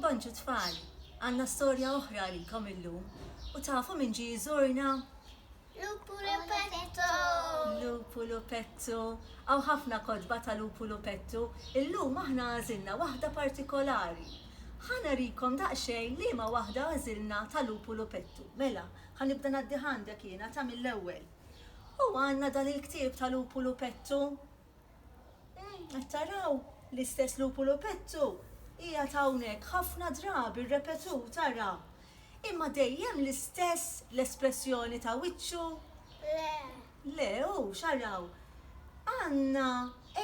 Bonġu tfal, għandna storja oħra għalikom illum, u tafu min ġie jżurna? Lupu Lupettu! Lupu Lupettu! Hawn ħafna kotba ta' Lupu Lupettu, illum aħna għażilna waħda partikolari. Ħa narikom daqsxejn liema waħda għażilna ta' Lupu Lupettu. Mela, ħa nibda ngħaddih għandek jiena, ta' mill-ewwel. Huwa għandna dan il-ktieb ta' Lupu Lupettu. Umm, qed taraw? L-istess lupu lupettu qiegħed hawnhekk ħafna drabi rrepetut, ara! Imma dejjem l-istess l-espressjoni ta' wiċċu? Le. Le, hux, araw. Għandna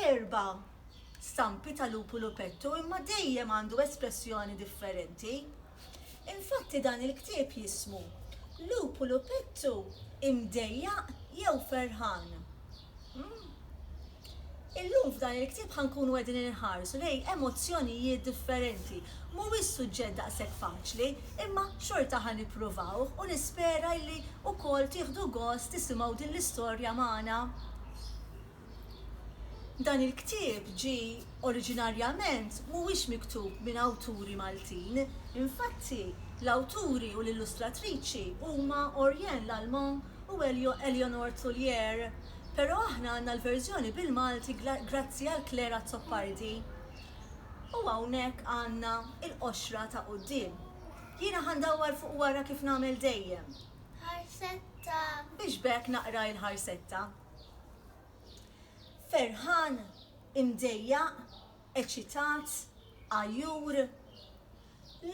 erba' stampi ta' lupu lupettu imma dejjem għandu espressjoni differenti. Infatti dan il-ktieb jismu Lupu lupettu imdejjaq jew ferħan? Illum f'dan il-ktieb ħa nkunu qegħdin inħarsu lejn emozzjonijiet differenti. Mhuwiex suġġett daqshekk faċli, imma xorta ħa nipprovawh u nispera illi wkoll tieħdu gost tisimgħu din l-istorja magħna. Dan il-ktieb ġie oriġinarjament mhuwiex miktub minn awturi Maltin. Infatti, l-awturi u l-illustratriċi huma Oriane Lallement u Eleonore Tullier, pero aħna għandna l-verżjoni bil-Malti grazzi għal Claire Azzopardi. U hawnhekk għandna il-qoxra ta' quddiem. Jiena ħa ndawwar fuq wara kif nagħmel dejjem. Ħarsetta. Biex b'hekk naqra il-ħarsetta. Ferħan, imdejjaq, eċitat, għajur,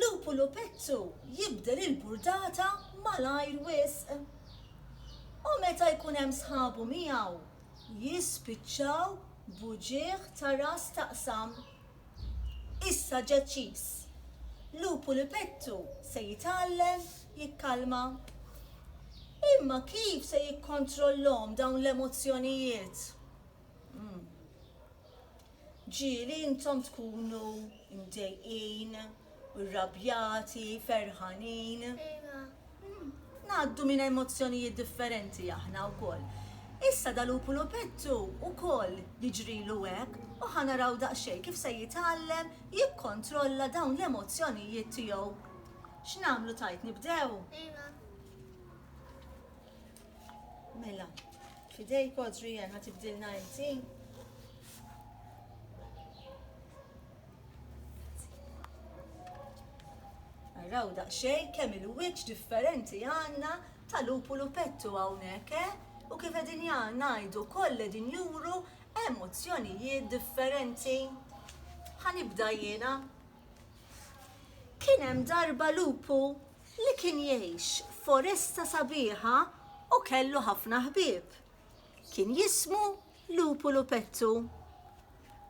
lupu lupettu jibdel il-burdata malajr wisq. U meta jkun hemm sħabu miegħu, jispiċċaw b'uġigħ ta' ras taqsam. Issa deċiż, lupu lupettu se jitgħallem jikkalma. Imma kif se jikkontrollhom dawn l-emozzjonijiet? Ġieli intom tkunu mdejqin, irrabjati, ferħanin. Ngħaddu minn emozzjonijiet differenti aħna wkoll. Issa dal-Upulupettu wkoll jiġrilu hekk u ħa naraw daqsxejn kif se jitgħallem jikkontrolla dawn l-emozzjonijiet tiegħu. X'nagħmlu tgħid nibdew? Mela, fidejk Audrey Ann ħatibdilna inti. Raw daqxej kemm il-wiċċ differenti għandna ta' lupu lupettu hawnhekk, eh? U kif qegħdin ngħidu koll qegħdin juru emozzjonijiet differenti. Ħanibda jiena. Kien hemm darba lupu li kien jgħix f'foresta sabiħa u kellu ħafna ħbieb. Kien jismu Lupu Lupettu.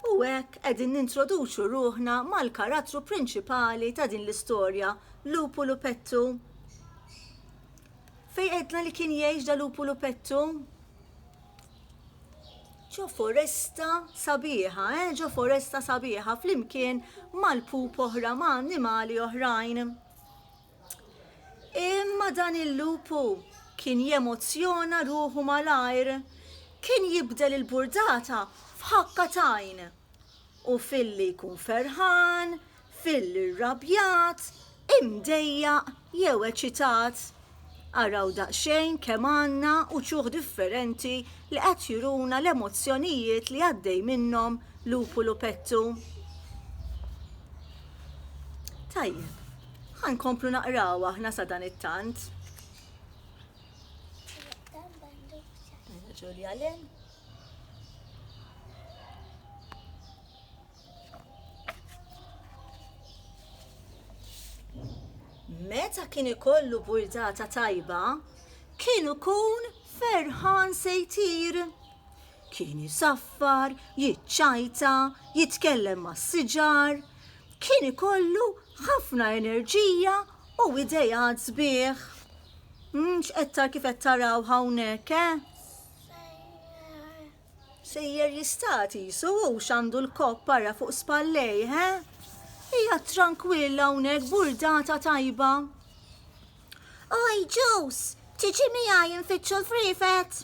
U hekk qegħdin nintroduċu ruħna mal-karattru prinċipali ta' din l-istorja, Lupu Lupettu. Fej qedna li kien jgħix da Lupu Lupettu? ġo foresta sabiħa, eh? ġo foresta sabiħa flimkien mal-pup oħra ma' annimali oħrajn. Imma dan il-lupu kien jemozzjona ruħu malajr. Kien jibdel il-burdata f'ħakka tajn. U filli jkun ferħan, filli rrabjat, imdejjaq jew eċitat. Araw daqsxejn kemm għandna uċuh differenti li qed juruna l-emozzjonijiet li għaddej minnhom Lupu Lupettu. Tajjeb, ħa nkomplu naqraw aħna sa dan it-tant. Ġulja Lin. Meta kien ikollu burdata tajba, kien ikun ferħan se jtir. Kien isaffar, jiċċajta, jitkellem mas-siġar, kien ikollu ħafna enerġija u idejat sbieħ. X'qed kif qed taraw hawnhekk, eh? Sejjer jista' qisu hux għandu l-kopp ara fuq spallejh, he? Qiegħed trankwill hawnhekk burdata tajba. Oj, Ġus, tiġi miegħi nfittxu l-friefet?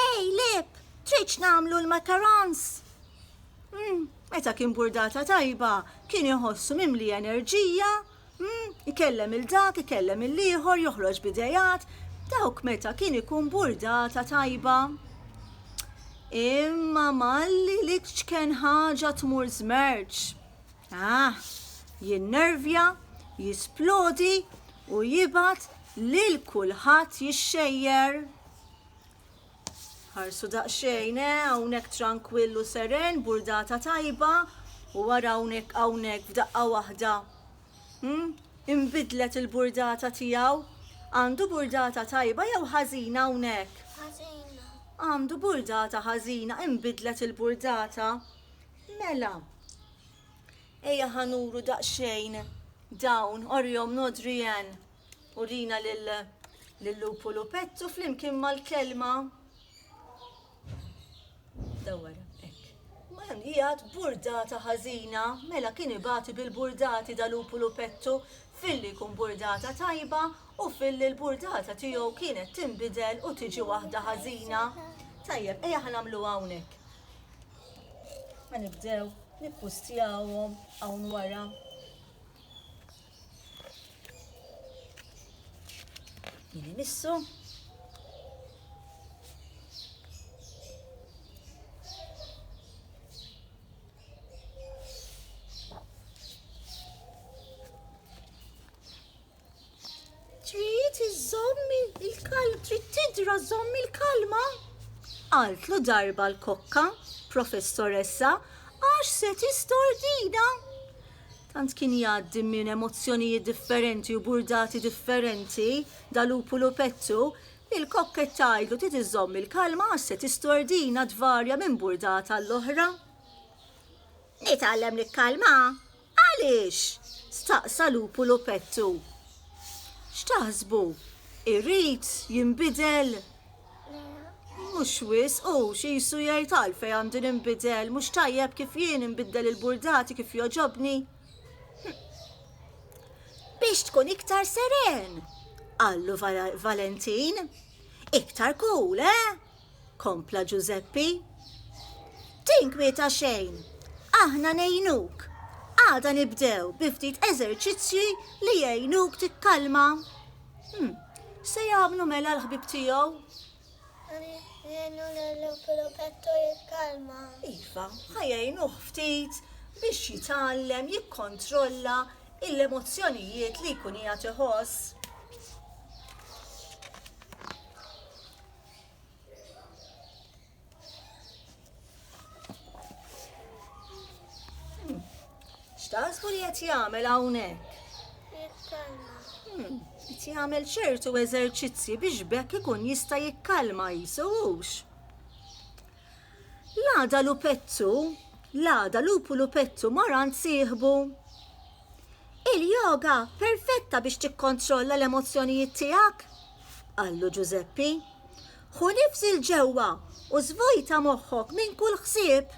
Ej, Lip, tridx nagħmlu l-macarons? Hmm, meta kien burdata tajba, kien iħossu mimli enerġija Hm, ikellem 'il dak, ikellem 'il ieħor, joħroġ b'ideat, dawk meta kien ikun burdata tajba. Imma malli l-iċken ħaġa tmur żmerċ. Ah, jinnervja, jisplodi u jibgħat lil kulħadd jixxejjer. Ħarsu daqsxejn, eh, hawnhekk trankwill u seren, burdata tajba, u wara hawnhekk hawnhekk f'daqqa waħda. Hmm? Imbidlet il-burdata tiegħu. Għandu burdata tajba jew ħażina hawnhekk? Ħażina. Għandu burdata ħażina, imbidlet il-burdata. Mela. Ejja ħanuru daqsxejn dawn, orjom nodri Urina lill-lupu lupettu flimkien mal-kelma. Dawwar, hekk. Ma hemm qiegħed burdata ħażina, mela kien ibati bil-burdati da lupu lupettu filli jkun burdata tajba u filli l-burdata tiegħu kienet tinbidel u tiġi waħda ħażina. Tajjeb, ejja ħa nagħmluha hawnhekk. Ħa nibdew nippustjawhom hawn wara. Jien imissu. Sidra żomm il-kalma. Altlu darba l-kokka, professoressa, għax se tistordina. Tant kien jgħaddi minn emozzjonijiet differenti u burdati differenti dal-Lupulu Pettu li l-kokk qed tgħidlu trid iżżomm il-kalma għax se tistordina tvarja minn burdata għall-oħra. Nitgħallem nikkalma? Għaliex? staqsa Lupulu Pettu. X'taħsbu? Irrid jinbidel? Mhux wisq, hux qisu jgħid għalfejn għandi ninbidel, mhux tajjeb kif jien inbiddel il-burdati kif jogħġobni? Biex tkun iktar seren, qallu Valentin. Iktar cool, eh? kompla Ġużeppi. Tinkwieta xejn, aħna ngħinuk. Għada nibdew bi ftit eżerċizzji li jgħinuk tikkalma. Hmm, x'se jagħmlu mela l-ħbib tiegħu? Jenu l-Filopetto jitkalma. Iva, ħajajnuh ftit biex jitgħallem jikkontrolla l-emozzjonijiet li jkun hija tiħoss. X'taħsbu li qed jagħmel hawnhekk? Hmm, qed jagħmel ċertu eżerċizzji biex bekk ikun jista' jikkalma jisuhux. L-għada lupettu, l-għada lupu lupettu maran sieħbu. Il-yoga perfetta biex tikkontrolla l-emozzjonijiet tiegħek, qallu Ġużeppi. Ħu nifs 'il ġewwa u żvojta moħħok minn kull ħsieb.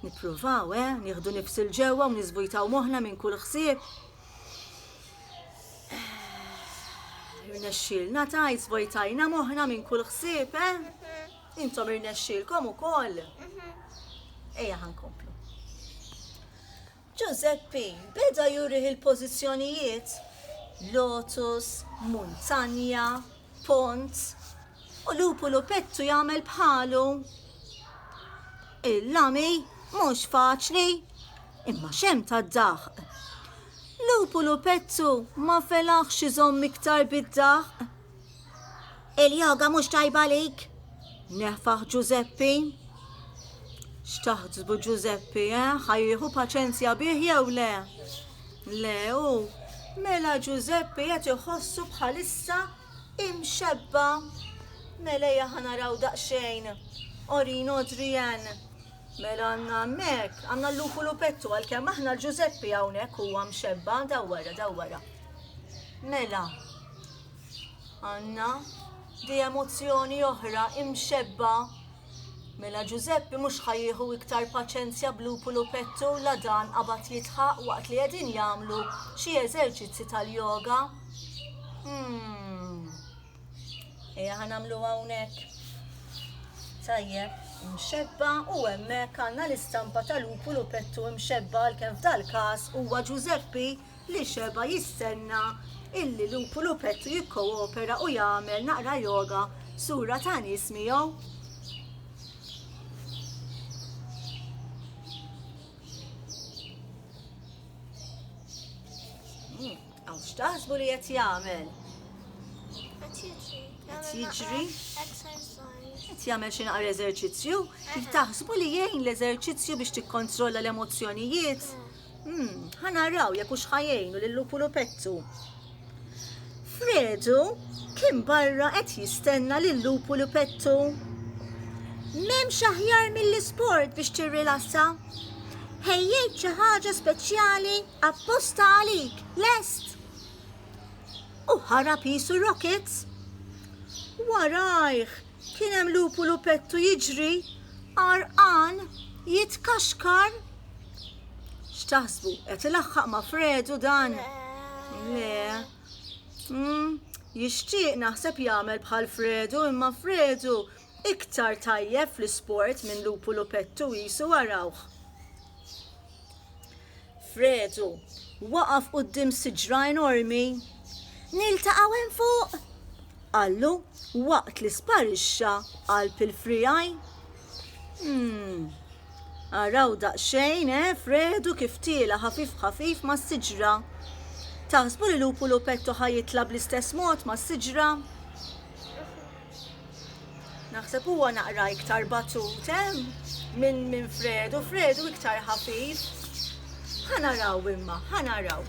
Nippruvaw, eh, nieħdu nifs 'il ġewwa u niżvojtaw moħħna minn kull ħsieb? Irnexxielna tgħid żvojtajna moħħna minn kull ħsieb, eh? Intom irnexxielkom ukoll. Ejja ħankomplu. Ġużeppi beda jurih il-pożizzjonijiet lotus, muntanja, pont, u lupu lupettu jagħmel bħalu. Il-lami mhux faċli, imma x'hemm tad-daħq! Lupu lupettu ma felaħx iżomm iktar bid-daħq Il-yoga mhux tajba għalik? Neħfaħ Ġużeppi. X'taħsbu Ġużeppi, eh? Ħajjieħu paċenzja bih jew le? Le u mela Ġużeppi qed iħossu bħalissa imxebba. Mela jaħa naraw daqsxejn. Orin Adrian. Mela għanna mek, għanna l-lupu lupettu għal-kem aħna l-Ġuzeppi għawnek u għam xebba, dawwara, dawwara. Mela, Għanna di emozzjoni oħra imxebba Mela Ġużeppi mhux ħajjieħu iktar paċenzja b'Lupulu Pettu la dan qabad jitħaq waqt li qegħdin jagħmlu xi eżerċizzi tal-yoga. Hmm. Ejja ħa nagħmlu hawnhekk. Tajjeb, imxebba u hemmhekk għandna l-istampa tal-Lupulu Pettu imxebba għalkemm f'dal-każ huwa Ġużeppi li xebgħa jistenna illi lupu lupettu jikkoopera u jagħmel naqra yoga sura ta' nies miegħu. Hmm, Għaw x'taħsbu li qed jagħmel? Qed jiġri? Qed jagħmel xi naqra eżerċizzju? Taħsbu li jgħin l-eżerċizzju biex tikkontrolla l-emozzjonijiet? Hmm. Hmm, ħa naraw jekk hux ħajjejnu lil lupu lupettu. Fredu kien barra qed jistenna lil lupu lupettu. M'hemmx aħjar mill-isport biex tirrilassa. Ħejjejt xi ħaġa speċjali apposta għalik, lest. U ħarab jisu rockets. Warajh Kien hemm lupu lupettu jiġri għarqan jitkaxkar. X'taħsbu, qed ilaħħaq ma' Fredu dan? Le. Mm, jixtieq naħseb jagħmel bħal Fredu imma Fredu iktar tajjeb fl-isport minn lupu lupettu qisu arawh. Fredu, waqaf quddiem siġra enormi. Niltaqgħu hemm fuq? qallu waqt li sparixxa qalb il-friegħi. Hmm. Araw daqsxejn, eh, Fredu kif tiela' ħafif ħafif mas-siġra. Taħsbu li Lupu Lupetto ħa jitla' bl-istess mod mas-siġra? Naħseb huwa naqra iktar batut, eh? Minn minn Fredu, Fredu iktar ħafif. Ħa naraw imma, ħa naraw.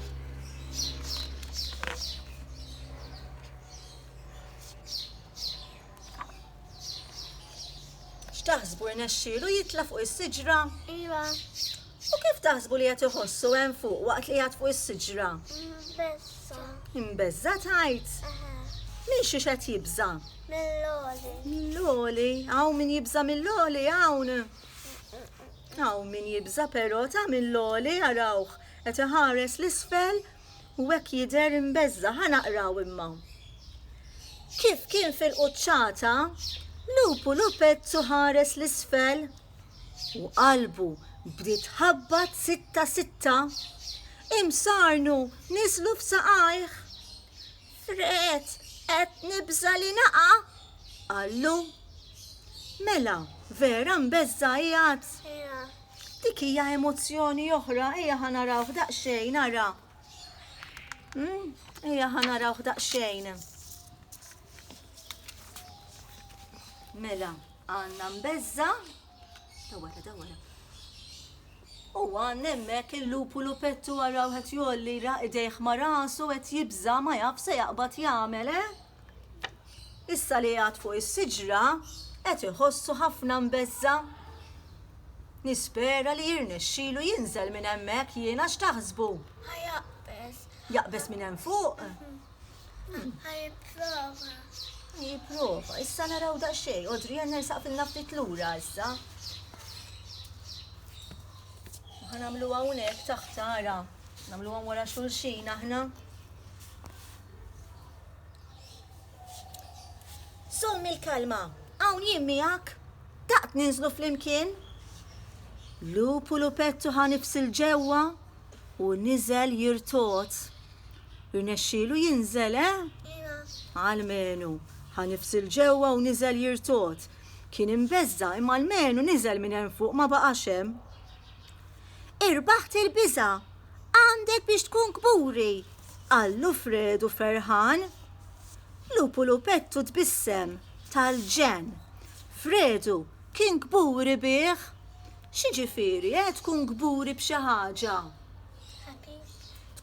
X'taħsbu rnexxielu jitla' fuq is-siġra? Iva. U kif taħsbu li qed iħossu hemm fuq waqt li qiegħed fuq is-siġra? Imbeżża'. Imbeżża' tgħid? Eħe. Minn xiex qed jibża'? Mill-għoli. Mill-għoli? Hawn min jibża' mill-għoli hawn? Hawn min jibża' però ta' mill-għoli arawh qed iħares 'l isfel u hekk jidher imbeżża'. Ħa naqraw imma. Kif kien fil-quċċata, lupu lupettu ħares 'l isfel U qalbu bdiet tħabbat sitta sitta, imsarnu niżlu f'saqajh. Fred, qed nibża' li naqa'! qallu. Mela, vera mbeżża' qiegħed? Dik hija emozzjoni oħra, ejja ħa narawh daqsxejn ara. Hmm, ejja ħa narawh daqsxejn. Mela, Għandna mbeżża, ta' wara, ta' wara. U għan nemmek il-lupu lupettu għaraw għet jolli idejħ ma rasu għet jibza ma jaf se jaqbat jgħamel, eh? Issa li għad fuq is-siġra għet iħossu ħafna mbezza. Nispera li jirnexxilu jinżel minn hemmhekk jiena x'taħsbu. Jaqbes minn hemm fuq. Jipprova. Jipprova. Issa naraw daqsxejn. Odri għan nersaq fil-na ftit lura issa. Għan għamlu għawnek taħtara. Namlu għan wara xulxin aħna. Sommi l-kalma. Għawn jimmijak. Taqt ninżlu fl-imkien. Lupu lupettu ħanifsil ġewwa u nizel jirtot. Irnexxielu jinżel, eh? Almenu, ħa nifsil ġewwa u niżel jirtot. Kien imbeżża imma almenu niżel minn hemm fuq ma baqax hemm. Irbaħt il-biża, għandek biex tkun kburi, qallu Fredu ferħan. Lupu lupettu tbissem tal-ġen. Fredu kien kburi bih. Xi ġifieri, eh, tkun kburi b'xi ħaġa?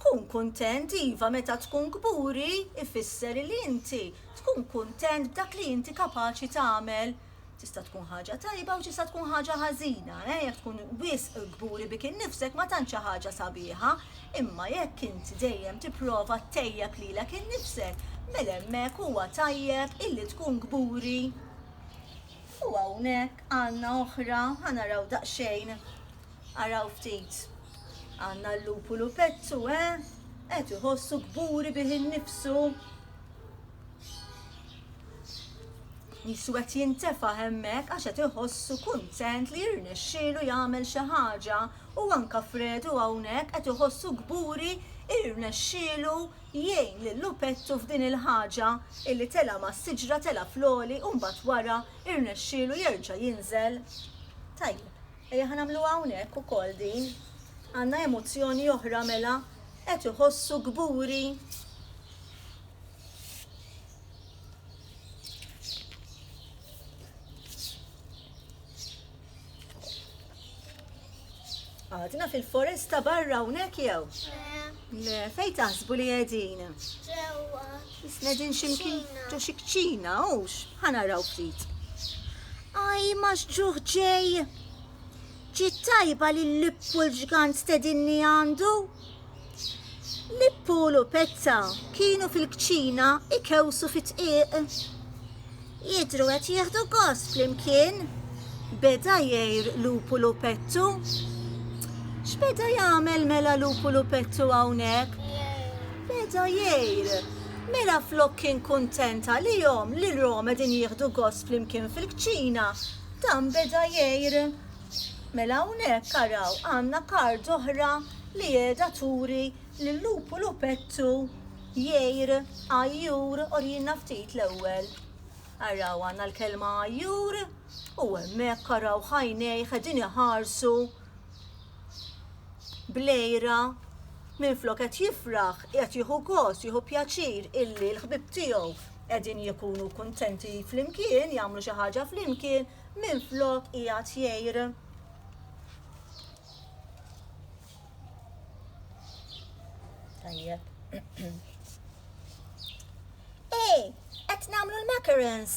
Tkun kuntent, iva, meta tkun kburi jfisser li inti tkun kuntent b'dak li inti kapaċi tagħmel. Tista' tkun ħaġa tajba u tista' tkun ħaġa ħażina. Eh, jekk tkun wisq kburi bik innifsek ma tantx hi ħaġa sabiħa, imma jekk int dejjem tipprova ttejjeb lilek innifsek, mela hemmhekk huwa tajjeb illi tkun kburi. U hawnhekk għandna oħra, ħa naraw daqsxejn, araw ftit. Għandna l-lupulu pezzu, eh? Qed iħossu kburi bih innifsu. Jisu qed jintefa' hemmhekk għax qed iħossu kuntent li jirnexxielu jagħmel xi ħaġa u anka Fredu hawnhekk qed iħossu kburi irnexxielu jgħin lil lupettu f'din il-ħaġa illi tela ma' siġra tela floli u mbagħad wara irnexxielu jerġa' jinżel. Tajjeb. Ejja ħa nagħmluha hawnhekk ukoll din. Għandna emozzjoni oħra mela qed iħossu kburi. Għadna fil-foresta barra hawnhekk jew? Le, fej taħsbu li qegħdin? Ġewwa. Qegħdin xi mkien ġo xi kċina, hux? Ħa naraw ftit. Aj, ma x'ġuħ ġej! Ġiet tajba li l-lippu l-ġgant stedinni għandu? Lippu u lupetta kienu fil-kċina ikewsu fit-tqiq. Jidhru qed jieħdu gost flimkien, beda jgħir Lupu Lupettu. X'beda jagħmel mela Lupu Lupettu hawnhekk? Beda jgħir. Mela flok kien kuntent għalihom li l-rom qegħdin jieħdu gost flimkien fil-kċina, dan beda jgħir. Mela hawnhekk araw għandna kard oħra li qiegħda turi lil Lupu Lupettu Jgħir, għajjur, orjilna ftit l-ewwel. Araw, għandna l-kelma għajjur u hemmhekk araw ħajnejh qegħdin iħarsu blejra minflok qed jifraħ, qed jieħu gost, jieħu pjaċir illi l-ħbib tiegħu qegħdin jkunu kuntenti flimkien, jagħmlu xi ħaġa flimkien, minflok qiegħed jgħir. Tajjeb. Ej, qed nagħmlu l-macarons.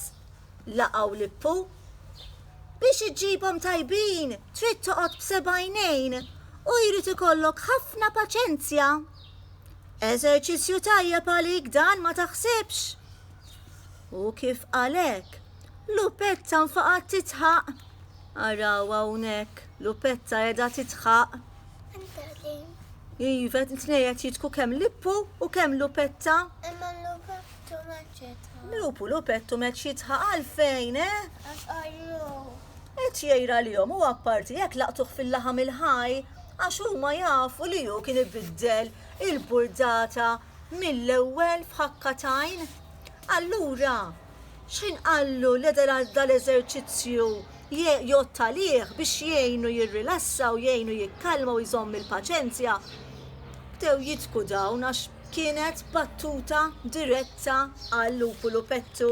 Laqgħu lippu. Biex iġġibhom tajbin, trid toqgħod b'sebajnejn u jrid ikollok ħafna paċenzja. Eżerċizzju tajjeb għalik dan ma taħsibx. U kif għalek, lupetta nfaqat titħaq. Araw hawnhekk. Lupetta edha titħaq. Iva, tnejet jitku kem lippu u kem lupetta. Imma lupettu meċċitħa. Lupu lupettu meċċitħa għalfejn, eh? Għax għajru. Et jajra li jom u għapparti jek laqtuħ fil-laħam il-ħaj, għax huma jafu li ju kien ibiddel il-burdata mill-ewwel f'ħakka tajn. Allura, X'ħin qallu li dal-eżerċizzju jgħodd għalih biex jgħinu jirrilassa u jgħinu jikkalma u jżomm il-paċenzja, bdew jidhku dawn għax kienet battuta diretta għal Lupu Lupettu.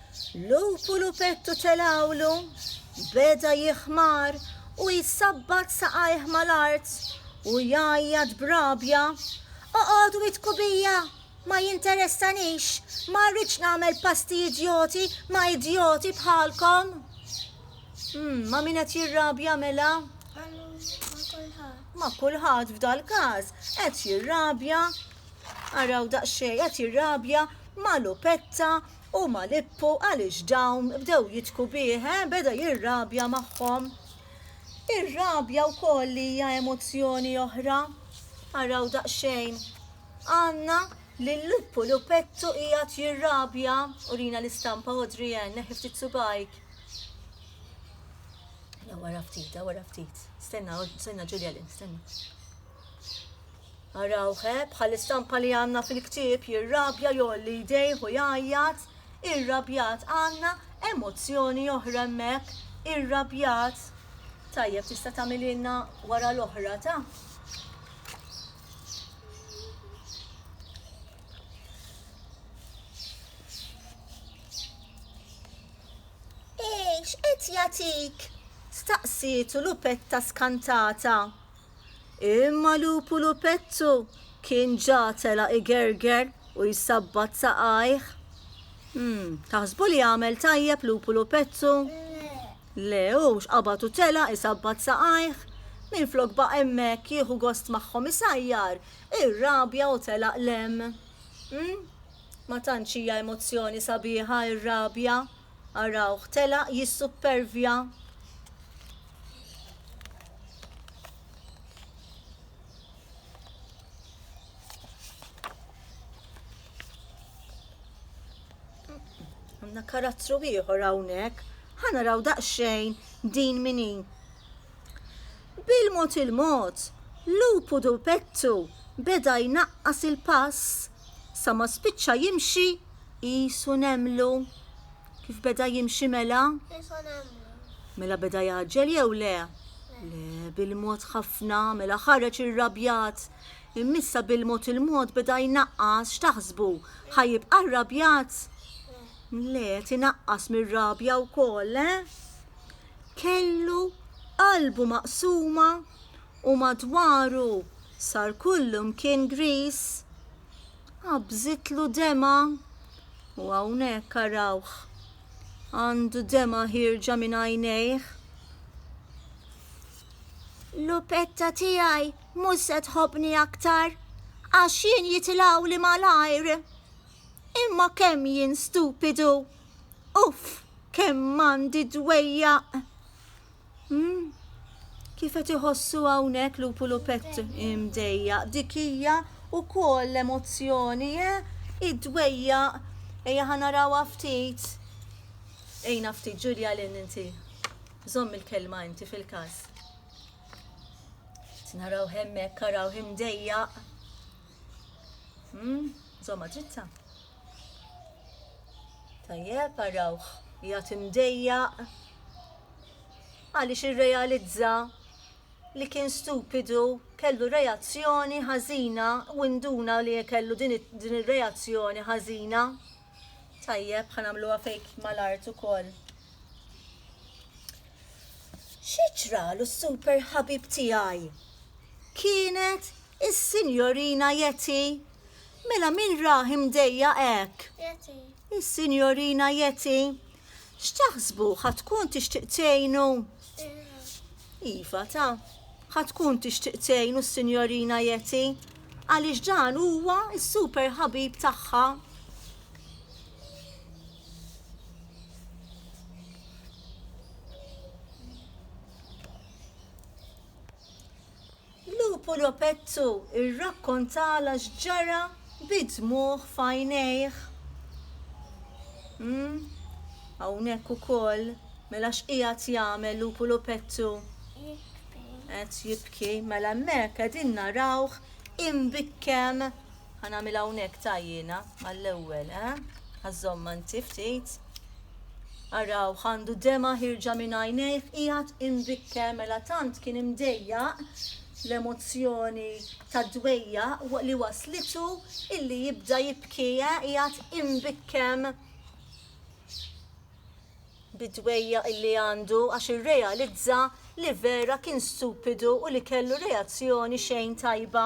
Lupu lupettu telgħulu beda jiħmar u jsabbat saqajh mal-art u jgħajjat b'rabja, Oqogħdu idku bija! Ma jinteressanix! Ma rridx nagħmel pasti idjoti ma' idjoti bħalkom! Umm, ma' min qed jirrabja mela? Ma' kulħadd. Ma' kulħadd f'dal-każ qed jirrabja, araw daqsxejn, qed jirrabja ma' lupetta Huma lippu għaliex dawn bdew jidhku bih, eh, beda jirrabja magħhom. Ir-rabja wkoll hija emozzjoni oħra. Araw daqsxejn. Għandna li l-lippu li pettu qiegħed jirrabja, urina l-istampa Audrey Ann, neħi ftit subajk. La wara ftit, wara ftit. Stenna, stenna Ġulja Lin, stenna. Araw he, bħall-istampa li għandna fil-ktieb, jirrabja, jgħolli jdejh u jgħajjat, irrabjat. Għandna emozzjoni oħra hemmhekk, irrabjat. Tajjeb, tista' tagħmililna wara l-oħra ta'? Ej, x'qed jagħtik? Staqsietu Lupetta skantata. Imma lupu lupettu kien ġa tela' igerger u jsabbat saqajh. Hm, taħsbu li għamel tajjeb lupu lupettu? Le, hu x'qabad u tela' jsabbat saqajh. Minflok baqa' hemmhekk jieħu gost magħhom isajjar, irrabja u telaq l-hemm. Hm, ma tantx hija emozzjoni sabiħa r-rabja! Arawh telaq jissuppervja. Għandna karattru ieħor hawnhekk. Ħa naraw daqsxejn din min hi. Bil-mod il-mod, lupu dupettu beda jnaqqas il-pass sa ma spiċċa jimxi qisu nemlu. Kif beda jimxi mela? Qisu nemlu. Mela beda jgħaġġel jew le? Le, bil-mod ħafna, mela ħareġ irrabjat. Immissa bil-mod il-mod beda jnaqqas, x'taħsbu? Ħa jibqa' rrabjat? Le, qed inaqqas mir-rabja wkoll, eh? kellu qalbu maqsuma u madwaru sar kullimkien griż, qabżitlu demgħa u hawnhekk arawh għandu demgħa ħierġa minn għajnejh. Lupetta tiegħi mhux se tħobbni aktar għax jien jitilgħuli malajr. Imma kemm jien stupidu! Uff, kemm għandi dwejjaq! Hmm? Kif qed iħossu hawnhekk lupu lupett imdejjaq dik hija wkoll l-emozzjoni, eh? Id-dwejjaq ejja ħa narawha ftit. Ejna ftit Ġulja lin inti. Żomm il-kelma inti fil-każ. Naraw hemmhekk araw imdejjaq. Hmm, żomma dritta. Tajjeb, arawh, jgħat imdejjaq. Għaliex irrealizza li kien stupidu, kellu reazzjoni ħażina u induna li kellu din ir-reazzjoni ħażina. Tajjeb, ħanamluha fejk mal-art ukoll. Xi ġralu super ħabib tiegħi? Kienet Is-Sinjorina Yeti? Mela min rah imdejjaq hekk? Yeti. Is-Sinjorina Yeti? X'taħsbu ħa tkun tixtieq tgħinu? Iva ta, ħa tkun tixtieq tgħinu s-Sinjorina Yeti għaliex dan huwa s-super ħabib tagħha. Lupu Lopettu rrakkontalha x'ġara bid-dmugħ f'għajnejh. Umm, hawnhekk ukoll, mela x'qiegħed jagħmel Lupu Lopettu? Qed jibki. Mela hemmhekk qegħdin narawh imbikkem. Ħa nagħmilha hawnhekk ta' jiena għall-ewwel, eh? Ħa żomm anti ftit. Araw għandu dema ħirġa minn għajnejh qiegħed imbikker mela tant kien imdejjaq l-emozzjoni tad-dwejja li waslitu illi jibda jibki eh, qiegħed imbikkem bid-dwejja illi għandu għax irrealizza li vera kien stupidu u li kellu reazzjoni xejn tajba.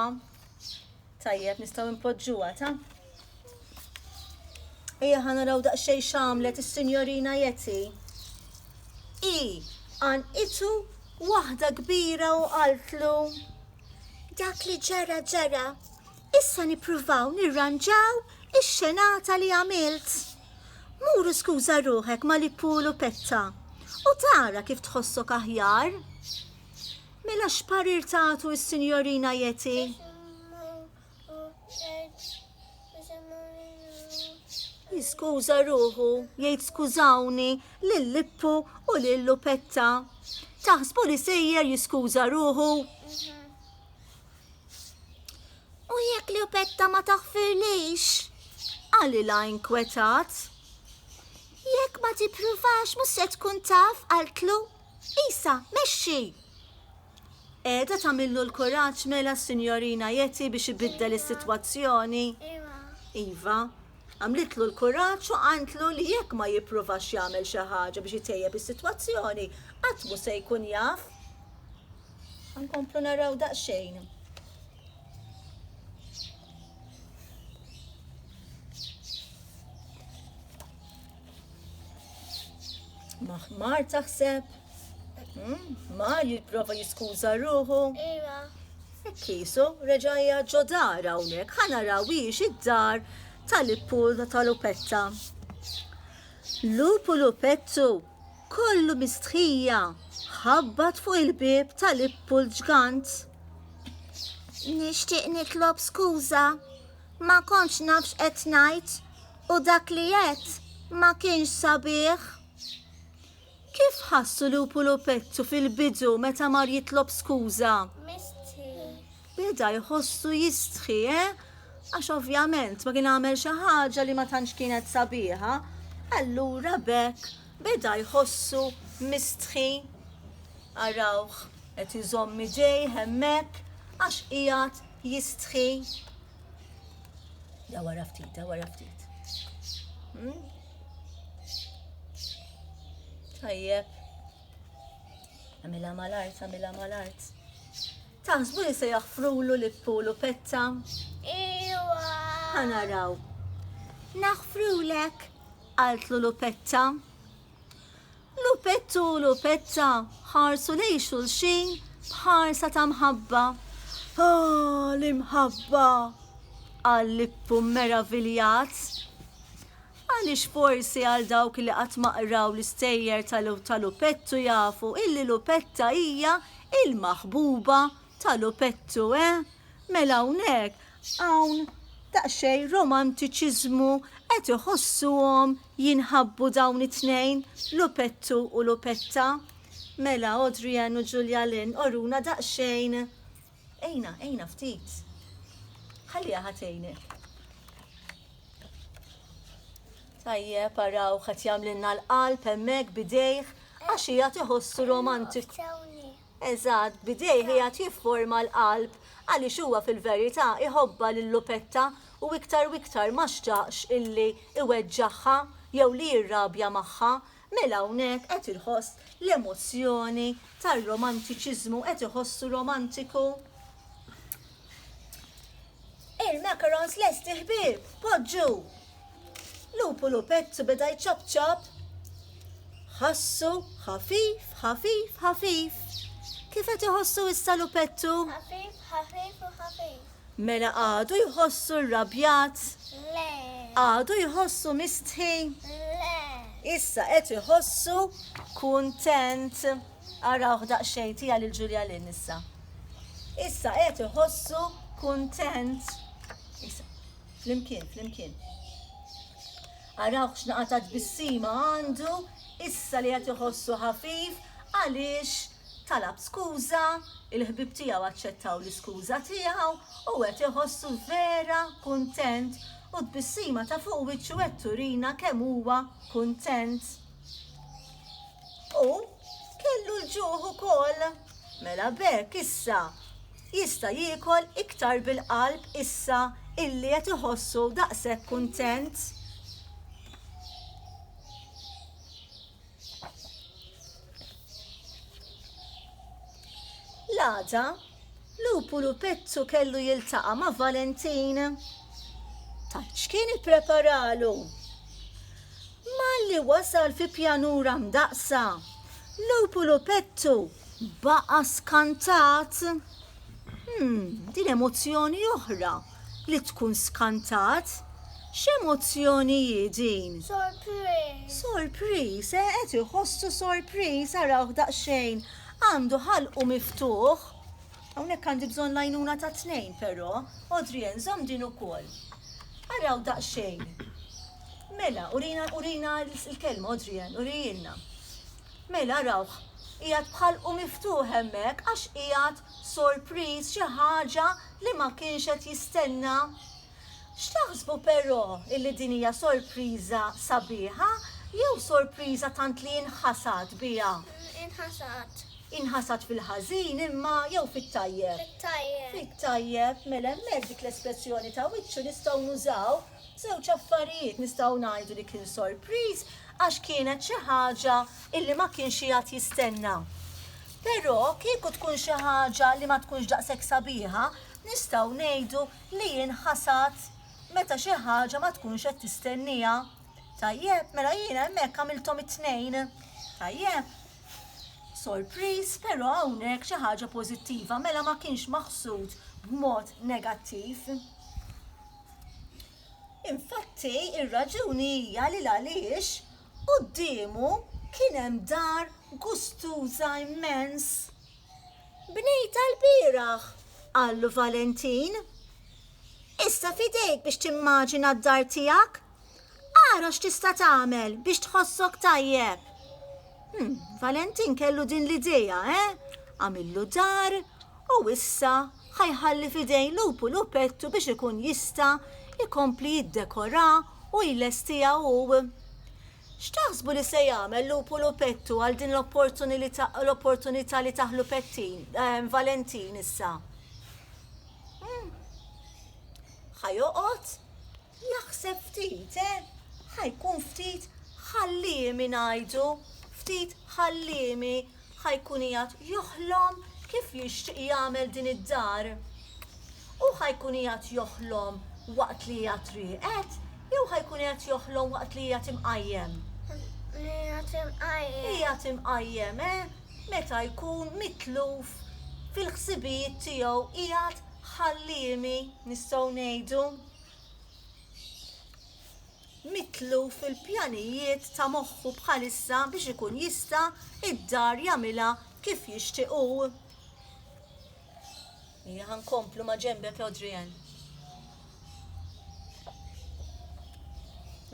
Tajjeb, nistgħu npoġġuha ta? Ejja ħa naraw daqsxejn x'għamlet is-Sinjorina Jeti. I għan itu waħda kbira u qaltlu. Dak li ġara ġara, issa nippruvaw nirranġaw ix-xenata li għamilt. Muru skuża ruħek ma li pulu petta u tara kif tħossok aħjar. Mela x'parir tagħtu s-Sinjorina Yeti? Jiskuża ruħu, jgħid skużawni lil Lippu u lil Lupetta. Taħsbu li sejjer jiskuża ruħu? U jekk Lupetta ma taħfirlix? Qalilha inkwetat. Jekk ma tippruvax mhux se tkun taf qaltlu. Isa, mexxi! Qiegħda tagħmillu l-kuraġġ mela s-Sinjorina Yeti biex ibiddel is-sitwazzjoni? Iva. Iva. Għamlitlu l-kuraġġ u qaltlu li jekk ma jippruvax jagħmel xi ħaġa biex itejjeb is-sitwazzjoni, qatt mhu se jkun jaf. Nkomplu naraw daqsxejn. Maħmar taħseb? Hmm? Ma jipprova jiskuża ruħu? Iva. Kisu, reġajja ġodar hawnhekk, ħana rawix id-dar tal-ippur tal-upetta. Lupu lupettu, kollu mistħija, ħabbat fuq il-bib tal-ippul ġgant. Nixtieq nitlob skuża Ma kontx naf x'qed ngħid u dak li għedt ma kienx sabiħ. Kif ħassu Lupu Lupettu fil-bidu meta mar jitlob skuża? Mistħi. Beda jħossu jistħi, eh? Għax ovvjament ma kien għamel xi ħaġa li ma tantx kienet sabiħa, allura b'hekk beda jħossu mistħi. Arawh. Qed iżomm idejh hemmhekk għax qiegħed jistħi. Da wara ftit, da wara ftit. Hmm? Tajjeb. Għamilha mal-art, għamilha mal-art. Taħsbu li se jaħfrulu li pulu petta? Iwa. Ħanaraw. Naħfrulek, qaltlu lu petta. Lupettu u Lupetta ħarsu lejn xulxin b'ħarsa ta' mħabba. Ah, l-imħabba! qal Lippu mmeraviljat. Għaliex forsi għal dawk li qatt ma qraw l-istejjer ta' Lupettu jafu illi Lupetta hija il-maħbuba Ta' lupettu, eh? Mela hawnhekk hawn daqsxejn romantiċiżmu, qed iħossuhom jinħabbu dawn it-tnejn, Lupettu u Lupetta? Mela Audrey Ann u Julia Lynn oruna daqsxejn. Għinha, għinha ftit. Ħalliha ħa tgħinek. Tajjeb, araw qed jagħmlilna l-qalb hemmhekk bidejh għax hija tiħossu romantik. Eżatt, b'idejh qiegħed jifforma l-qalb, għaliex huwa fil-verità jħobbha lil Lupetta u iktar u iktar ma xtaqx illi jweġġagħha jew li jirrabja magħha. Mela hawnhekk qed iħoss l-emozzjoni tar-romantiċiżmu, qed iħossu romantiku. Il-macarons lesti ħbieb, poġġu! Lupu lupettu beda jċop ċop. Ħassu ħafif, ħafif, ħafif. Kif qed iħossu issa lupettu? Ħafif, ħafif u ħafif. Mela għadu jħossu rrabjat? Le. Għadu jħossu mistħi? Le. Issa qed iħossu kuntent. Arawh daqsxejn tiegħi lil Julia Lynn issa. Issa qed iħossu kuntent. Issa, flimkien, flimkien. Arawh x'naqa ta' tbissima għandu issa li qed iħossu ħafif għaliex talab skuża, il-ħbib tiegħu aċċettaw l-iskuża tiegħu u qed iħossu vera kuntent u tbissima ta' fuq wiċċu qed turina kemm huwa kuntent. U kellu l-ġuħ ukoll. Mela b'hekk issa jista' jiekol iktar bil-qalb issa illi qed iħossu daqshekk kuntent. L-għada Lupulu Pettu kellu jiltaqa' ma' Valentin. Tgħid x'kien ippreparalu? Malli wasal fi pjanura mdaqqsa, Lupulu Pettu baqa' skantat. Hm, din emozzjoni oħra li tkun skantat. X'emozzjoni hi din? Sorpriż. Sorpriż, eh, qed iħossu sorpriż, arawh daqsxejn. Għandu ħalqu miftuħ. Hawnhekk għandi bżonn l-għajnuna ta' tnejn però. Odrien, żomm din ukoll. Araw daqsxejn. Mela, urina, urina l-kelma, Odrien, urijilna. Mela, arawh, qiegħed bħalqu miftuħ hemmhekk għax qiegħed sorpriż xi ħaġa li ma kienx qed jistenna. X'taħsbu però illi din hija sorpriża sabiħa jew sorpriża tant li inħasad biha? Inħasad. Inħasad fil-ħażin imma jew fit-tajjeb? Fit-tajjeb. Fit-tajjeb, mela hemmhekk dik l-espressjoni ta' wiċċu nistgħu nużaw żewġ affarijiet, nistgħu ngħidu li kien sorpriż għax kienet xi ħaġa illi ma kienx qiegħed jistenna. Però kieku tkun xi ħaġa li ma tkunx daqshekk sabiħa, nistgħu ngħidu li jien ħasad meta xi ħaġa ma tkunx qed tistennieha. Tajjeb, mela jien hemmhekk għamilthom it-tnejn. Tajjeb. Sorpriż, però hawnhekk xi ħaġa pożittiva, mela ma kienx maħsud b'mod negattiv. Infatti, ir-raġuni hija li għaliex quddiemu kien hemm dar gustuża immens. Bnejtha lbieraħ, qallu Valentin. Issa f'idejk biex timmaġina d-dar tiegħek. Ara x'tista' tagħmel biex tħossok tajjeb. Hmm, Valentin kellu din l-idea, eh? Għamillu dar u issa ħajħalli f'idejn lupu lupettu biex ikun jista' jkompli jiddekorah u jlestiha hu. X'taħsbu li se jagħmel Lupu Lupettu għal din l-opportunità li taħlu Pettin, Valentin issa? Hm. Ħa joqgħod jaħseb ftit, eh? Ħa jkun ftit ħalliemi ngħidu, ftit ħalliemi ħa jkun qiegħed joħlom kif jixtieq jagħmel din id-dar. Hu ħa jkun qiegħed joħlom waqt li qiegħed rieqed jew ħa jkun qiegħed joħlom waqt li qiegħed imqajjem? Qiegħed imqajjem. Qiegħed imqajjem, eh? Meta jkun mitluf fil-ħsibijiet tiegħu qiegħed ħalliemi, nistgħu ngħidu. mitluf fil-pjanijiet ta' moħħu bħalissa biex ikun jista' d-dar jagħmilha kif jixtieq hu. Hija ħa nkomplu ma' ġembek Adrian.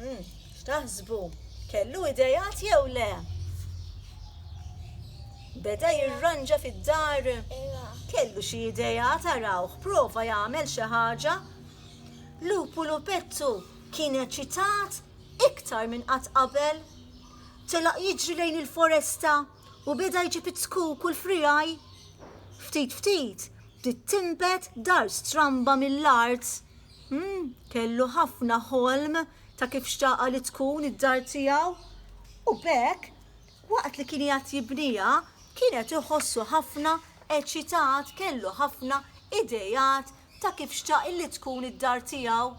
Hmm, x'taħsbu? Kellu idejat jew le? Beda jirranġa fid-dar? Kellu xi idejat arawh, prova jagħmel xi ħaġa Lupulu Pettu kien eċitat iktar minn qatt qabel. Telaq jiġri lejn il-foresta u beda jġib it-tkuk u l-friegħi. Ftit ftit bdiet tinbet dar stramba mill-art. Hm, kellu ħafna ħolm ta' kif xtaqa li tkun id-dar tiegħu. U b'hekk, waqt li kien qiegħed jibniha, kien qed iħossu ħafna eċitat, kellu ħafna ideat ta' kif xtaq illi tkun id-dar tiegħu,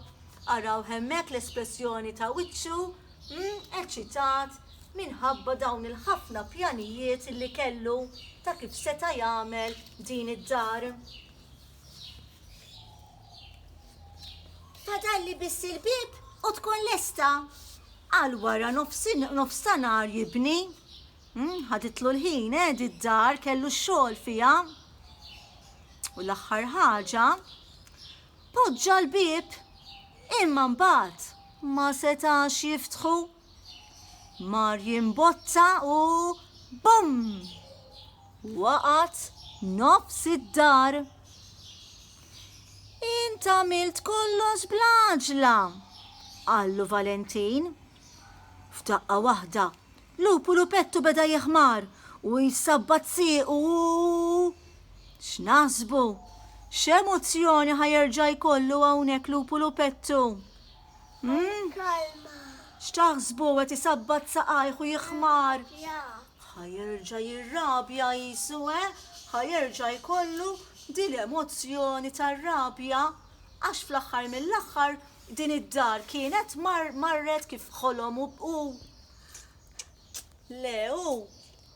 arawh hemmhekk l-espressjoni ta' wiċċu, hm, eċċitat minħabba dawn il-ħafna pjanijiet illi kellu ta' kif seta' jagħmel din id-dar. Fadalli biss il-bieb u tkun lesta! Għal wara nofs nofstanhar jibni, Hm, ħaditlu l-ħin, eh, di d-dar, kellu x-xogħol fiha. U l-aħħar ħaġa, poġġa l-bieb, imma mbagħad ma setax jiftħu. Mar jimbotta u bum! Waqat nofs id-dar. Int għamilt kollox blaġla, qallu Valentin. F'daqqa waħda, lupu lupettu beda jeħmar u jsabbat siequ u X'naħsbu? X'emozzjoni ħa jerġa' jkollu hawnhekk lupu lupettu? Kalma. X'taħsbu qed isabbat saqajh u jeħmar? Ħa jerġa' jirrabja qisu, eh? Ħa jerġa' jkollu din l-emozzjoni tar-rabja għax fl-aħħar mill-aħħar Din id-dar kienet mar marret kif ħolom u u le u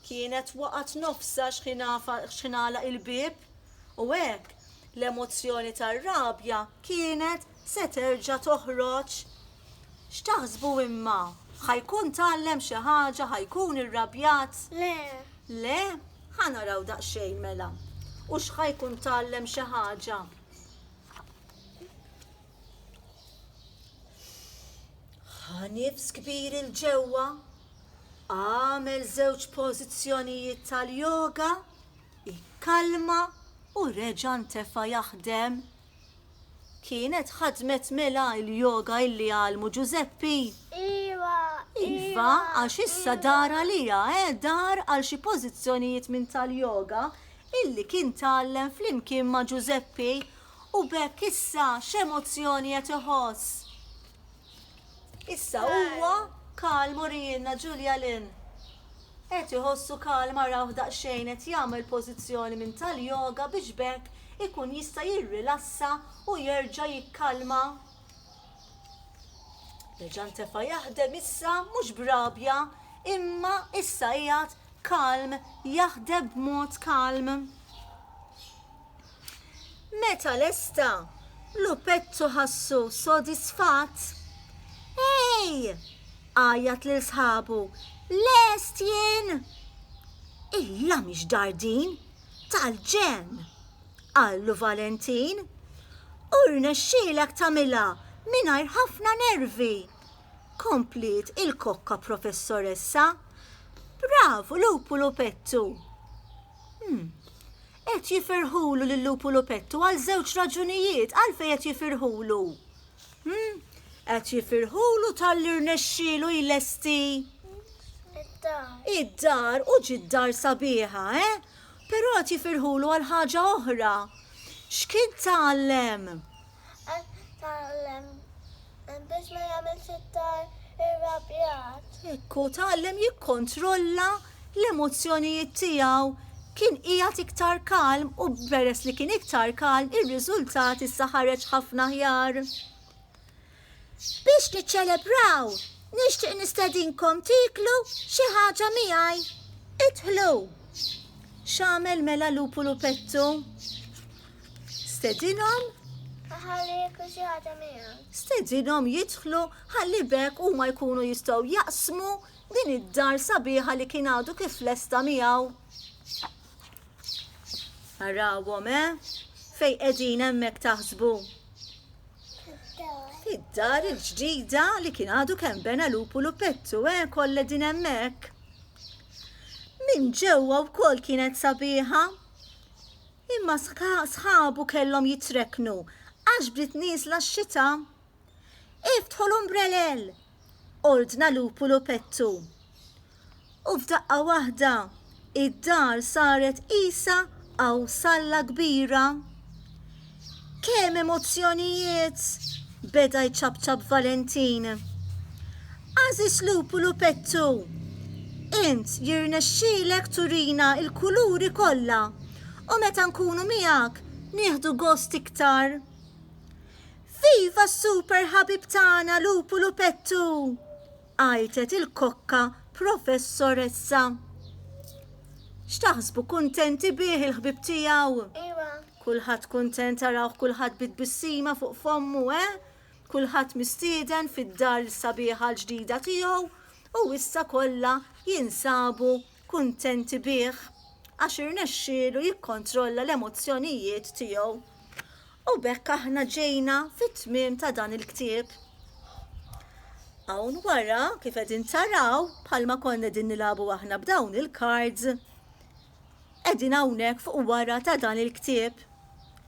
kienet waqgħet nofsa xħinala il-bib u hekk l-emozzjoni tar-rabja kienet se terġa' toħroġ. X'taħsbu imma? Ħa jkun tgħallem xi ħaġa, ħa jkun irrabjat? Le. Le? Ħa naraw daqsxejn mela. U x'ħa jkun tgħallem xi ħaġa? Ħa nifs kbir 'il ġewwa, agħmel żewġ pożizzjonijiet tal-yoga, ikkalma u reġa' ntefa' jaħdem. Kienet ħadmet mela il-yoga illi għallmu Ġużeppi? Iva, iva. Iva, għax issa iva. dar għalija, eh, dar għal xi pożizzjonijiet minn tal-yoga illi kien tgħallem flimkien ma' Ġużeppi U b'hekk issa x'emozzjoni qed iħoss? Issa huwa kalm urielna Julia Lynn. Qed iħossu kalm arawh daqsxejn qed jagħmel pożizzjoni minn tal-yoga biex b'hekk ikun jista' jirrilassa u jerġa' jikkalma. Reġa' ntefa' jaħdem issa mhux b'rabja imma issa qiegħed kalm jaħdem b'mod kalm. Meta lesta, lupettu ħassu sodisfatt. Ej! għajjat lil sħabu, lest jien! Illa mhix dar din, tal-ġenn! qallu Valentin. U rnexxielek tagħmilha mingħajr ħafna nervi! kompliet il-kokka professoressa. Bravu lupu lupettu! Hmm, Qed jifirħulu lil-lupu lupettu għal żewġ raġunijiet, għalfejn qed jifirħulu? Hm? Qed jifirħulu talli rnexxielu jlesti id-dar u ġiet dar sabiħa, eh? Però qed jifirħulu għal ħaġa oħra. X'kien tgħallem? Tgħallem biex ma jagħmilx iktar irrabjat. Ekku tgħallem jikkontrolla l-emozzjonijiet tiegħu. Kien qiegħed iktar kalm u peress li kien iktar kalm ir-riżultat issa ħareġ ħafna aħjar. Biex niċċelebraw, nixtieq nistedinkom tiklu xi ħaġa miegħi. Idħlu! X'għamel mela Lupu Lupettu? Stedinhom ħalli jekku xi ħaġa miegħek. Stedinhom jidħlu ħalli bekk huma jkunu jistgħu jaqsmu din id-dar sabiħa li kien għadu kif lesta miegħu. Arawhom, eh? Fej qegħdin hemmhekk taħsbu. Id-dar il-ġdida li kien għadu kemm bena lupu lupettu, eh? Kollha din hemmhekk. Min ġewwa wkoll kienet sabiħa. Imma sħabu kellhom jitrekknu għax bdiet nieżla x-xita. Iftħu l-umbrelel! ordna Lupu Lupettu. U f'daqqa waħda id-dar saret qisha awsalla kbira. Kemm emozzjonijiet! beda jċapċap Valentin. Għażiż lupu lupettu! Int jirnexxielek turina l-kuluri kollha u meta nkunu miegħek nieħdu gost iktar. Viva s-super ħabib tagħna lupu lupettu! Għajtet il-kokka Professoressa. X'taħsbu kuntenti bih il-ħbieb tiegħu? Iva. Kulħadd kuntent arawh kulħadd bi tbissima fuq fommu, eh? Kulħadd mistieden fid-dar il-sabiħa l-ġdida tiegħu u issa kollha jinsabu kuntenti bih għax irnexxielu jikkontrolla l-emozzjonijiet tiegħu. U b'hekk aħna ġejna fit-tmiem ta' dan il-ktieb. Hawn wara kif qegħdin taraw bħalma konna qegħdin nilagħbu aħna b'dawn il-cards qegħdin hawnhekk fuq wara ta' dan il-ktieb.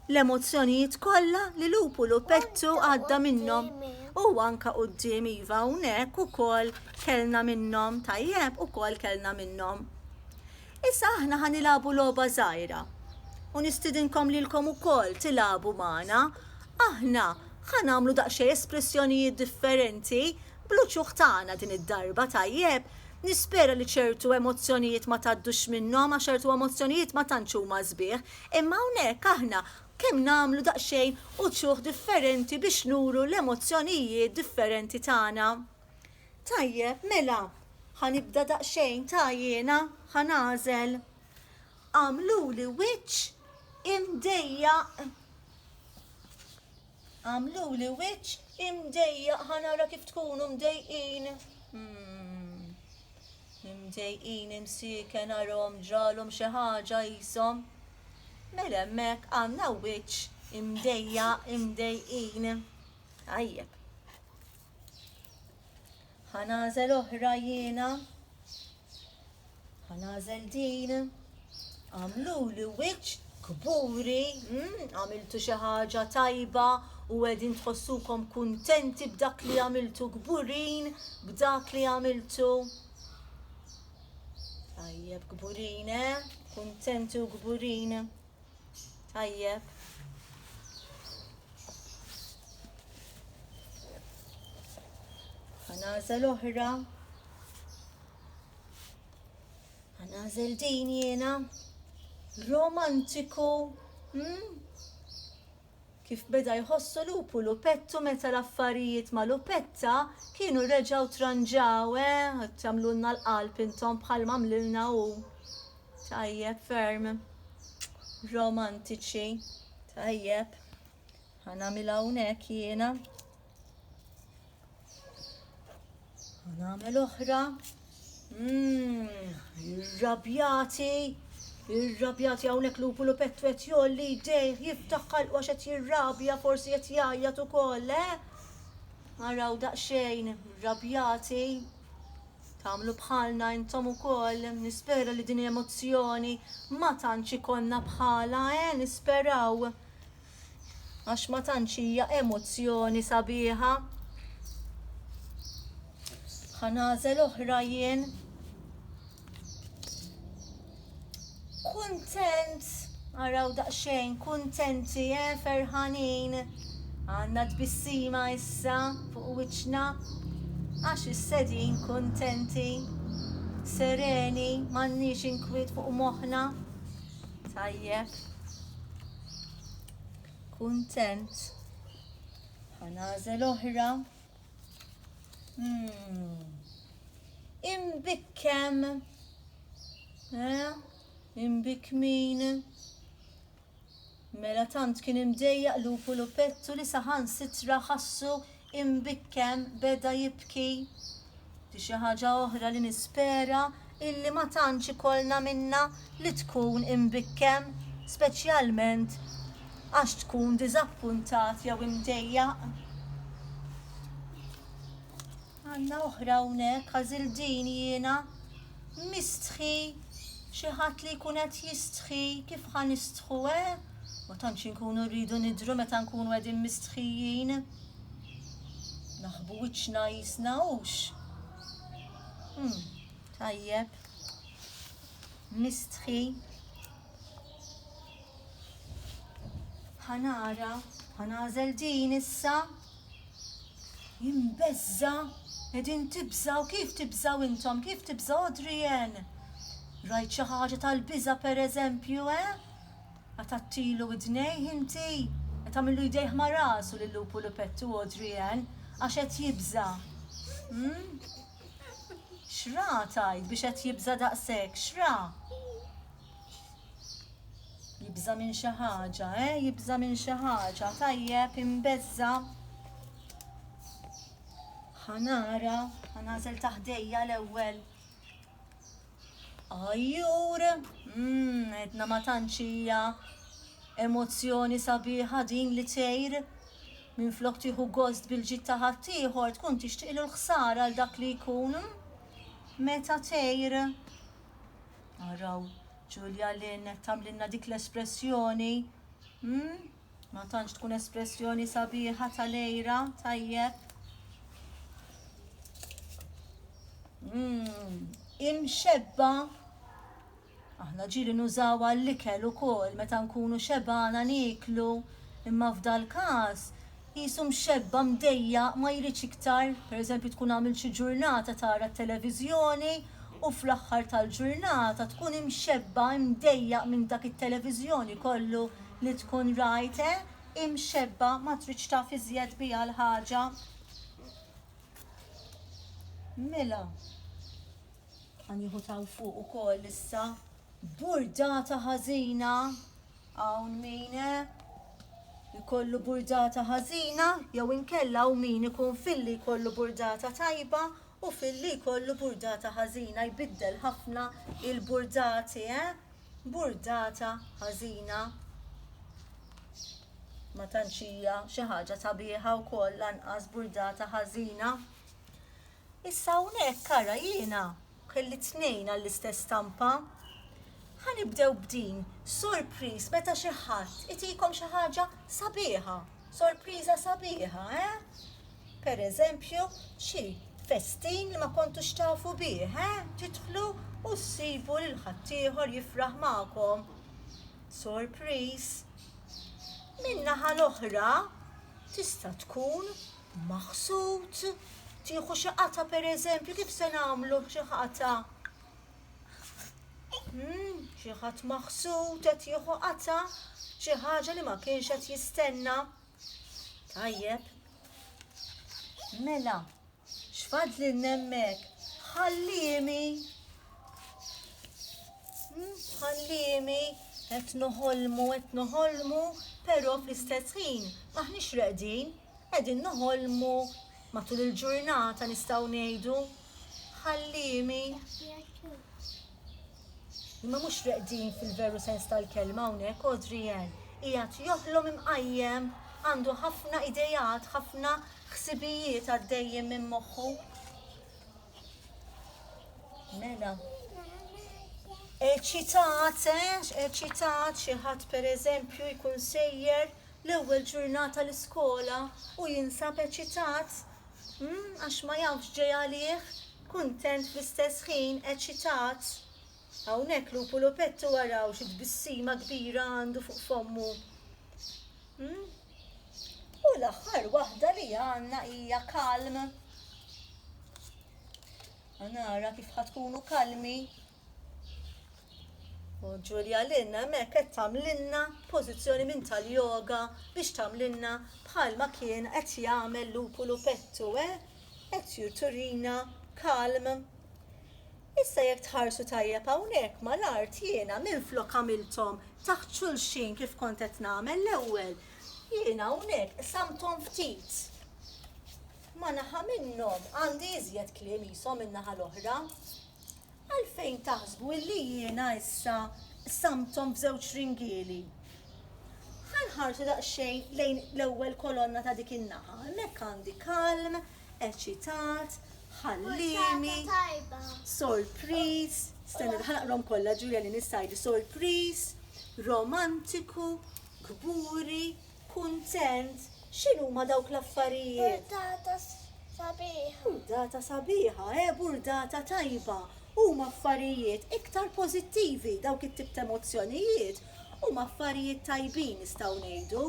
L-emozzjonijiet kollha li lupu lupettu għadda minnhom u anka quddiem iva hawnhekk ukoll kellna minnhom tajjeb ukoll kellna minnhom. Issa aħna ħa nilagħbu logħba żgħira u nistidinkom lilkom ukoll tilagħbu magħna. Aħna ħa nagħmlu daqsxejn espressjonijiet differenti bl-uċuħ tagħna din id-darba, tajjeb? Nispera li ċertu emozzjonijiet ma tgħaddux minnhom għax ċertu emozzjonijiet ma tantx huma sbieħ. Imma hawnhekk aħna kemm nagħmlu daqsxejn uċuħ differenti biex nuru l-emozzjonijiet differenti tagħna. Tajjeb, mela, ħa nibda daqsxejn ta' jiena ħa nagħżel. Għamluli wiċċ imdejjaq. Għamluli wiċċ imdejjaq ħa nara kif tkunu mdejqin. Hmm. Imdejqin, imsieken, għarhom ġralhom xi ħaġa qishom. Mela hemmhekk għandna wiċċ imdejja, imdejqin. Tajjeb. Ħa nagħżel oħra jiena. Ħa nagħżel din. Għamluli wiċċ kburi, għamiltu xi ħaġa tajba u qegħdin tħossukom kuntenti b'dak li għamiltu kburin b'dak li għamiltu. Tajjeb kburin, eh? Kuntenti u kburin. Tajjeb. Għanażel oħra. Ħanażel din jiena. Romantiku, hm? Kif beda jħossu lupu lupettu meta l-affarijiet ma' lupetta kienu reġgħu tranġaw, eh, tagħmlulna l-qalb intom bħal m'għamlilna hu. Tajjeb ferm. Romantiċi. Tajjeb. Ħanamilha hawnhekk jiena. Nagħmel oħra. Mmm, irrabjati, irrabjati hawnhekk lupu lu pettu qed jolli jdejh jiftaħ ħalqu għax qed jirrabja forsi qed jgħajjat ukoll, eh? Araw daqsxejn, irrabjati. Tagħmlu bħalna intom ukoll, nispera li din emozzjoni ma tantx ikollna bħala, eh? Nisperaw. għax ma tantx hija emozzjoni sabiħa. Ħa nagħżel oħra jien. Kuntent, araw daqsxejn, kuntenti, eh, ferħanin. Għandna tbissima issa fuq wiċċna għax is-sedin kuntenti, sereni, m'għandniex inkwiet fuq moħħna. Tajjeb. Kuntent. Ħanażel oħra. Hmm. Imbikkem. Eh? Imbikmin. Mela tant kien imdejjaq lupu lupettu li saħan sitra ħassu Imbikken beda jibki. Di xi ħaġa oħra li nispera illi ma tantx ikollna minnha li tkun imbikkem, speċjalment għax tkun diżappuntat jew imdejjaq. Għandna oħra hawnhekk, għażilt din jiena, Mistħi, xi ħadd li jkun qed jistħi, kif ħa nistħu, eh? Ma tantx inkunu rridu nidhru meta nkunu qegħdin mistħijin. Naħbu wiċċna qisna, hux? Hm, tajjeb. Mistħi. Ħa nara, ħa nagħżel din issa. Jien beżża', qegħdin tibżgħu, kif tibżgħu intom, kif tibżgħu Adrienne? Rajt xi ħaġa tal-biża' pereżempju, eh? Qatgħattilu widnejh inti? Qed tagħmillu jdejh ma' rasu lil Lupu Lupettu Adrienne għax qed jibża'. Hm? X'ra tgħid biex qed jibża' daqshekk, x'ra? Jibża' minn xi ħaġa, eh? Jibża' minn xi ħaġa, tajjeb, imbeżża. Ħanara, ħanażel taħdejja l-ewwel. Ajjur, mm, edna ma tantxija emozzjoni sabiħa din li tgħir minn flok tieħu gost bil-ġid ta' ħaddieħor tkun tixtieqlu l-ħsara għal dak li jkun. Meta tgħir Araw Ġulja Lynn qed tagħmlilna dik l-espressjoni. Hmm? Ma tantx tkun espressjoni sabiħa tal-lejra, tajjeb. Hmm, imxebba Aħna ġiri nużaw għall-ikel ukoll meta nkunu xebana niklu, imma f'dal-każ Qisu mxebba' mdejjaq ma jridx iktar, pereżempju tkun għamilt xi ġurnata tara t-televiżjoni u fl-aħħar tal-ġurnata tkun imxebba' imdejjaq minn dak it-televiżjoni kollu li tkun rajt eh imxebba' ma tridx taf iżjed biha l-ħaġa. Mela. Ħa nieħu t'hawn fuq ukoll issa. Burdata ħażina. Hawn min jkollu eh, burdata ħażina jew inkella hawn min ikun filli jkollu burdata tajba u filli jkollu burdata ħażina jbiddel ħafna il-burdati, eh? Burdata ħażina. Ma tantxija xi ħaġa sabiħa wkoll lanqas burdata ħażina. Issa hawnhekk ara jiena kelli tnejn għall-istess stampa. Ħa nibdew b'din, sorpriż meta xi ħadd itikom xi ħaġa sabiħa, sorpriża sabiħa, eh? Per eżempju, xi festin li ma kontux tafu bih, eh? Tidħlu u ssibu lil ħaddieħor jifraħ magħkom. Sorpriż. Min-naħa l-oħra tista' tkun maħsud, tieħu xi qata' pereżempju kif se nagħmlu xi qata' hmm, xi ħadd maħsud qed jieħu qata' xi ħaġa li ma kienx qed jistenna. Tajjeb. Mela, x'fadli nemmek? Ħallimi. Hmm, ħallimi qed noħolmu, qed noħolmu, però fl-istess ħin maħniex reqdin, Qegħdin noħolmu matul il-ġurnata nistgħu ngħidu, ħalliemi. Imma mhux reqdin fil-veru sens tal-kelma hawnhekk Adrian qiegħed joħlom imqajjem għandu ħafna idejat, ħafna ħsibijiet għaddejjin minn moħħu. Mela. Eċitat, eh, eċitat xi ħadd pereżempju jkun sejjer l-ewwel ġurnata l-iskola u jinsab eċitat, umm, għax ma jaf x'ġej għalih, kuntent fl-istess ħin, eċitat. Hawnhekk lupu lupettu araw xi tbissima kbira għandu fuq fommu, umm. U l-aħħar waħda li għandna hija kalm. Ħa nara kif ħa tkunu kalmi. U Julia Lynn hemmhekk qed tagħmlilna pożizzjoni minn tal-yoga biex tagħmlilna bħalma kien qed jagħmel Lupu Lupettu, eh? Qed turina kalm. Issa jekk tħarsu tajjeb hawnhekk mal-art jiena minflok għamilthom taħt xulxin kif kont qed nagħmel l-ewwel, jiena hawnhekk qsamthom ftit. Ma' naħa minnhom għandi iżjed kliem qishom min-naħa l-oħra, Għalfejn taħsbu illi jiena issa qsamthom f'żewġ ringieli? Ħa nħarsu daqsxejn lejn l-ewwel kolonna ta' dik in-naħa. Hemmhekk għandi kalm, eċitat, ħalliemi, sorpriż, stenna ħa naqrahom kollha Ġulja li nista' ngħid sorpriż, romantiku, kburi, Kuntent? X'inhuma dawk l-affarijiet? Burdata sabiħa. Burdata sabiħa, eh, burdata tajba. Huma affarijiet iktar pożittivi dawk it-tip ta' emozzjonijiet. Huma affarijiet tajbin nistgħu ngħidu.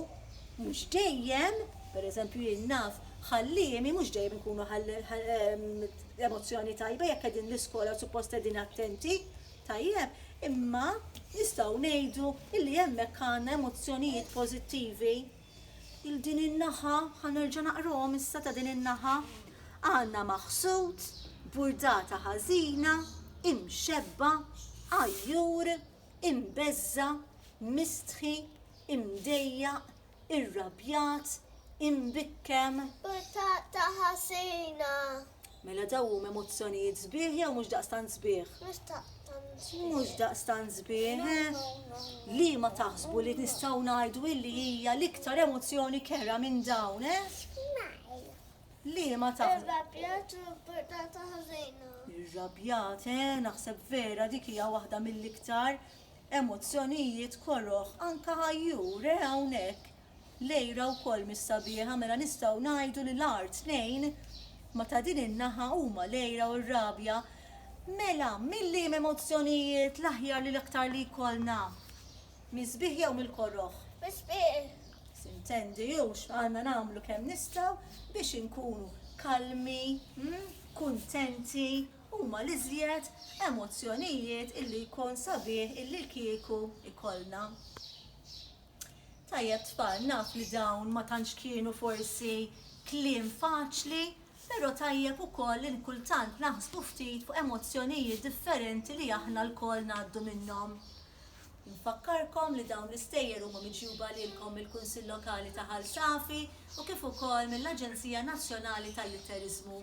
Mhux dejjem, pereżempju jien naf ħalliemi mhux dejjem ikunu emozzjoni tajba jekk qegħdin l-iskola suppost qegħdin attenti tajjeb, imma nistgħu ngħidu li hemmhekk għandna emozzjonijiet pożittivi. Il din in-naħa, ħa nerġa' naqrahom issa ta' din in-naħa, għandna maħsud, burdata ħażina, imxebba, għajjur, imbeżża, mistħi, imdejjaq, irrabjat, imbikkem. Butata ħażina. Mela dawn huma emozzjonijiet sbieħ jew mhux daqstant sbieħ? Mhux daqstant sbieħ. Mhux daqstant sbieħ, eh? Liema taħsbu li nistgħu ngħidu illi hija l-iktar emozzjoni kera minn dawn, eh? Smile. Liema taħsbu. Irrabjat u butata ħażina. Irrabjat, eh? Naħseb vera dik hija waħda mill-iktar Emozzjonijiet koroh, anke ħajjur, eh, hawnhekk! Lejra wkoll mhix sabiħa, mela nistgħu ngħidu li l-agħar tnejn ma' ta' din in-naħa huma l-għira u r-rabja. Mela, mil-liema emozzjonijiet l-aħjar li l-aktar li jkollna? Mis-sbiħ jew mill-koroh? Mis-sbiħ! Sintendi, u x'għandna nagħmlu kemm nistgħu biex inkunu kalmi, kuntenti huma l-iżjed emozzjonijiet illi jkun sabiħ illi kieku jkollna. Tajjeb tfal, naf li dawn ma tantx kienu forsi kliem faċli, però tajjeb ukoll li kultant naħsbu ftit fuq emozzjonijiet differenti li aħna lkoll ngħaddu minnhom. Infakkarkom li dawn l-istejjer huma miġjuba lilkom mill-Kunsill Lokali ta' Ħal Safi u kif ukoll mill-Aġenzija Nazzjonali tal-Litteriżmu.